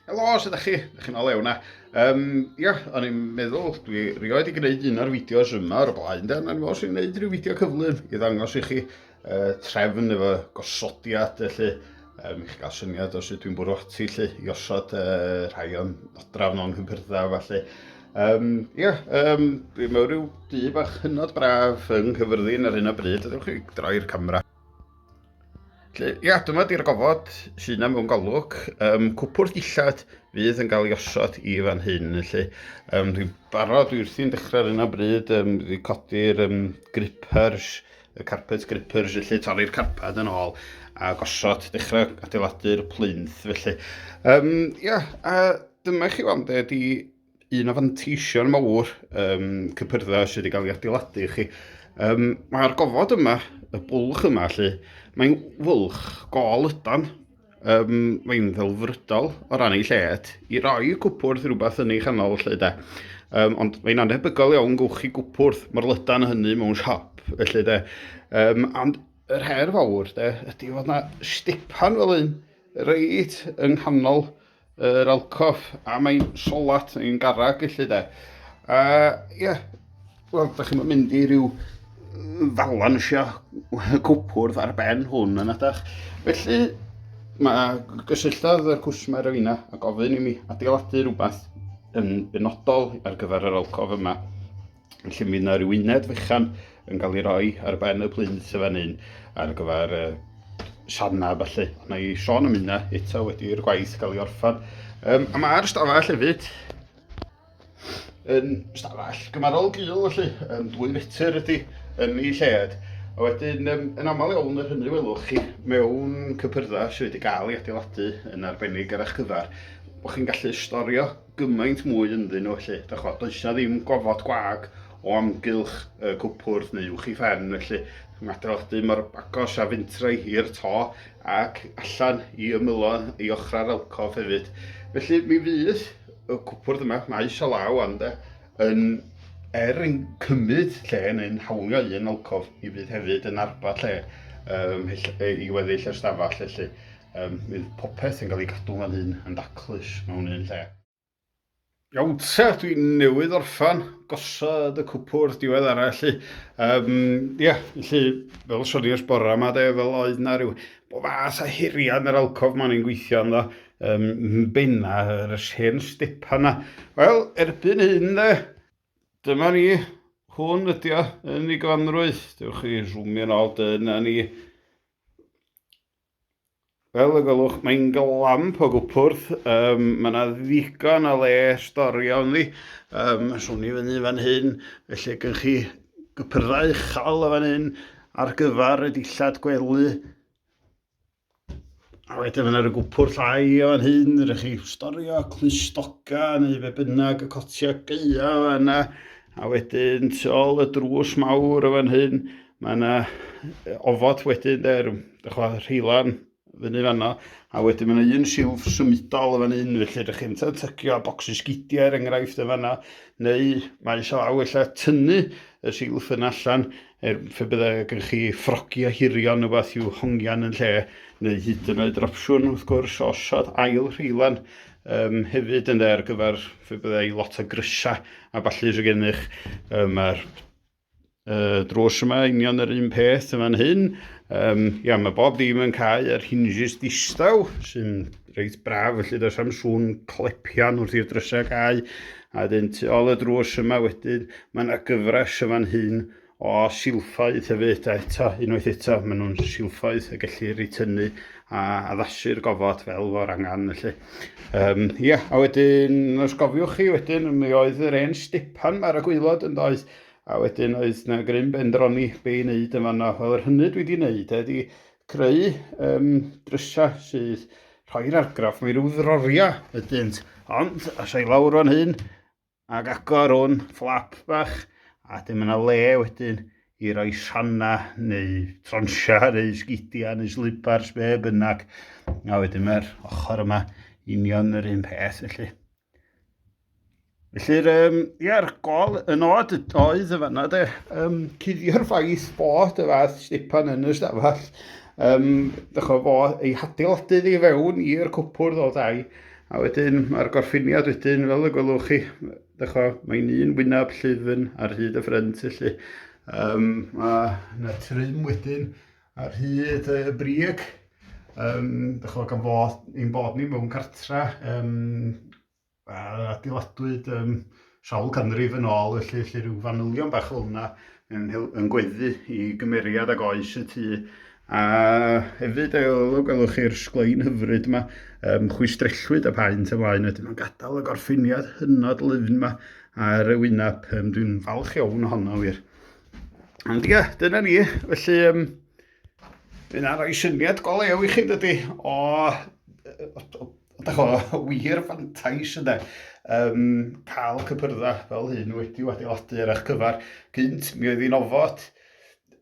Helo, sut ydych chi? Ydych chi'n olew na? Um, ia, o'n i'n meddwl, dwi rioed i gwneud un o'r fideos yma o'r blaen, dan o'n i'n gwneud rhyw fideo cyflym i ddangos i chi uh, trefn efo gosodiad, felly, um, i chi gael syniad o sut dwi'n bwrw ati, lle, i osod uh, rhai o'n odraf nhw'n hyfyrddau, felly. Um, ia, um, dwi'n mewn rhyw du bach hynod braf yng Nghyfyrddin ar hyn o bryd, ydych chi'n droi'r camera. Felly, ia, dyma di'r gofod sy'n am mewn golwg. Um, cwpwrdd dillad fydd yn cael ei osod i fan hyn. Felly, um, dwi'n barod, dwi wrthi'n dechrau ar yna bryd, um, dwi'n codi'r um, grippers, y carpet grippers, felly torri'r carpad yn ôl a gosod, dechrau adeiladu'r plinth. Felly, um, ia, a dyma chi weld, di un o fanteisio'r mawr um, cypyrddau sydd wedi cael ei adeiladu i chi. Um, Mae'r gofod yma, y bwlch yma, lle, mae'n fwlch gol ydan. Um, mae'n ddelfrydol o ran ei lled i roi cwpwrdd rhywbeth yn ei chanol lle de. Um, ond mae'n anhebygol iawn gwch chi gwpwrdd mae'r lydan hynny mewn siop felly de. Um, ond yr her fawr de, ydy fod yna stipan fel un reit yng nghanol Yr alcoff, a mae'n solat, yn garag felly de. A ie, yeah. wel, da chi'n mynd i ryw falansio cwpwrdd ar ben hwn yn adach. Felly, mae gysylltodd yr cwsmer o fina a gofyn i mi adeiladu rhywbeth yn benodol ar gyfer yr alcoff yma. Felly mi yna rhyw uned fychan yn cael ei roi ar ben y plinth fan hyn ar gyfer uh, sianna falle. Na i Sean am hynna eto wedi'r gwaith cael ei orffan. Um, a mae'r stafell hefyd yn stafell gymarol gil felly, yn dwy fetr ydy yn ei lled. A wedyn, um, yn aml iawn yr hynny welwch chi mewn cypyrddau sydd wedi cael ei adeiladu yn arbennig ar eich cyfer, bod chi'n gallu storio gymaint mwy ynddyn nhw felly, dach ch'mod, does 'na ddim gofod gwag o amgylch y cwpwrdd neu uwch 'i phen felly, mater o'ch dŷ mor agos a fentra'i i'r to ac allan i ymylo i ochrau'r alcof hefyd. Felly mi fydd y cwpwrdd yma, maes o law wan 'de, yn er yn cymryd lle neu'n hawlio un alcof, mi fydd hefyd yn arbad lle ym mhell- i weddill y stafell felly. Yym, fydd popeth yn cael ei gadw fan hyn yn daclus mewn un lle. Iawn te, dwi newydd orffan gosod y cwpwrdd diwedd arall lly. Um, yeah, lly, fel y sonios bora yma de, fel oedd na rhyw bo fas a hiriad yn yr alcof ma'n i'n gweithio ynddo, um, benna yr hen stepan na. Wel, erbyn hyn de, dyma ni, hwn ydi o, yn ei gyfanrwydd. Dewch chi zoomio'n ôl dyna ni. Fel y gwelwch, mae'n glamp o gwpwrdd. Um, mae yna ddigon o le storio ynddi. Um, swn i fyny fan hyn, felly gyn chi gypyrddau uchel o fan hyn ar gyfer y dillad gwely. A wedyn fyna y gwpwr llai o fan hyn, rydych chi storio clustoga neu fe bynnag y cotia geia o yna. A wedyn tu ôl y drws mawr o fan hyn, Mae yna ofod wedyn, de, rhyw, rheilan fyny fanno, a wedyn mae yna un silff symudol yn fan hyn, felly ydych chi'n tycio bocsys gidiau er enghraifft yn fanno, neu mae eisiau law efallai tynnu y silff yn allan, er fe byddai gen chi ffrogi a hirion neu beth i'w hongian yn lle, neu hyd yn oed yr opsiwn wrth gwrs o osod ail rheilan um, hefyd yn dde ar gyfer fe byddai lot o grysau a falle sydd gennych, um, mae'r Uh, drws yma, union yr un peth yn fan hyn. Um, ia, mae bob dim yn cael yr hinges distaw, sy'n reit braf, felly does am sŵn clepian wrth i'r drysau cael. A dyn tu ôl y drws yma wedyn, mae yna gyfres yn fan hyn o silffoedd hefyd, a eto, unwaith eto, maen nhw'n silffoedd y gellir ei tynnu a addasu'r gofod fel fo'r angen felly. Um, ia, a wedyn, os gofiwch chi wedyn, mi oedd yr hen stepan ar y gweilod yn doedd, a wedyn oedd na grym bendroni be i wneud yn fanna. Wel, yr hynny dwi wedi wneud ydy creu um, drysau sydd rhoi'r argraff, mae rhyw ddroriau ydynt, ond as ei lawr o'n hyn, Ac agor un fflap bach a wedyn mae yna le wedyn i roi rhannau neu tronsiau neu sgidiau neu slipars be bynnag. A wedyn mae'r ochr yma union yr un peth felly. Felly'r um, ia'r gol yn oed oedd y fanna de, um, cuddio'r ffaith bod y fath stipan yn y stafell, um, dychwa fo ei hadeiladu i fewn i'r cwpwrdd o ddau, A wedyn mae'r gorffiniad wedyn, fel y gwelwch chi, dychwa, mae'n un wyneb llyfn ar hyd y ffrynt felly. Um, mae yna trim wedyn ar hyd y brig. Um, dychwa, gan fod ni'n bod ni mewn cartra, um, a adeiladwyd um, Sawl canrif yn ôl felly, felly rhyw fanylion bach fel yna yn, yn gweddu i gymeriad ag oes y tu. A hefyd, gwelwch chi'r sglein hyfryd yma, um, chwistrellwyd a paent ymlaen, wedyn mae'n gadael y gorffiniad hynod lyfn yma ar y wyneb. Um, Dwi'n falch iawn ohono wir. Ond ia, dyna ni. Felly, um, Dyna roi syniad go lew i chi, dydy, o, o, o Da chwa, wir fantais yna. Um, cael cypyrda fel hyn wedi adeiladu ar eich cyfer gynt, mi oedd hi'n ofod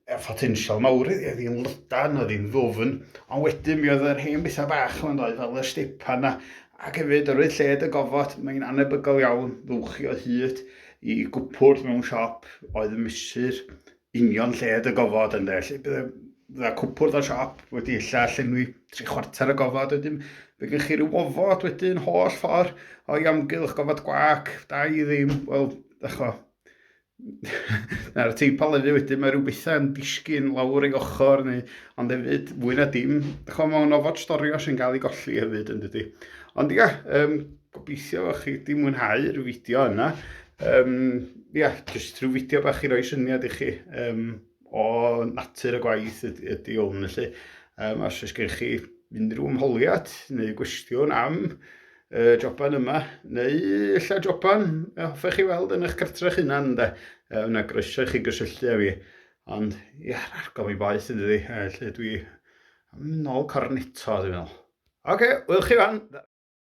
y potensial mawr iddi, oedd hi'n lydan, oedd hi'n ddofn, ond wedyn mi oedd yr hen bethau bach yma'n dod fel y stepan yna, ac hefyd yr oedd lled y gofod, mae'n anebygol iawn ddwch i o hyd i gwpwrdd mewn siop oedd yn mesur union lled y gofod ynde. Lle bydde, bydde cwpwrdd dda siop wedi illa llenwi tri chwarter y gofod. Wedyn fe gen chi rhyw ofod wedyn holl ffordd o'i amgylch gofod gwac, da i ddim, wel, echo. Na'r teip alefu wedyn mae rhyw bethau yn disgyn lawr ei ochr neu ond hefyd fwy na dim. Echo mae o'n ofod storio sy'n cael ei golli hefyd yn dydy. Ond ia, um, Gobeithio o'ch chi wedi mwynhau rhyw fideo yna. Um, ia, jyst rhyw fideo bach i roi syniad i chi um, o natur y gwaith ydy, ydy hwn. Felly, um, os oes gen chi unrhyw ymholiad neu gwestiwn am y joban yma, neu illa joban y hoffech chi weld yn eich cartref hunan, de, yna groeso i chi gysylltu â fi. Ond, ia, argol mi boeth yn dydi, lle dwi am nôl corneto, dwi'n meddwl. Oce, okay, wyl chi fan!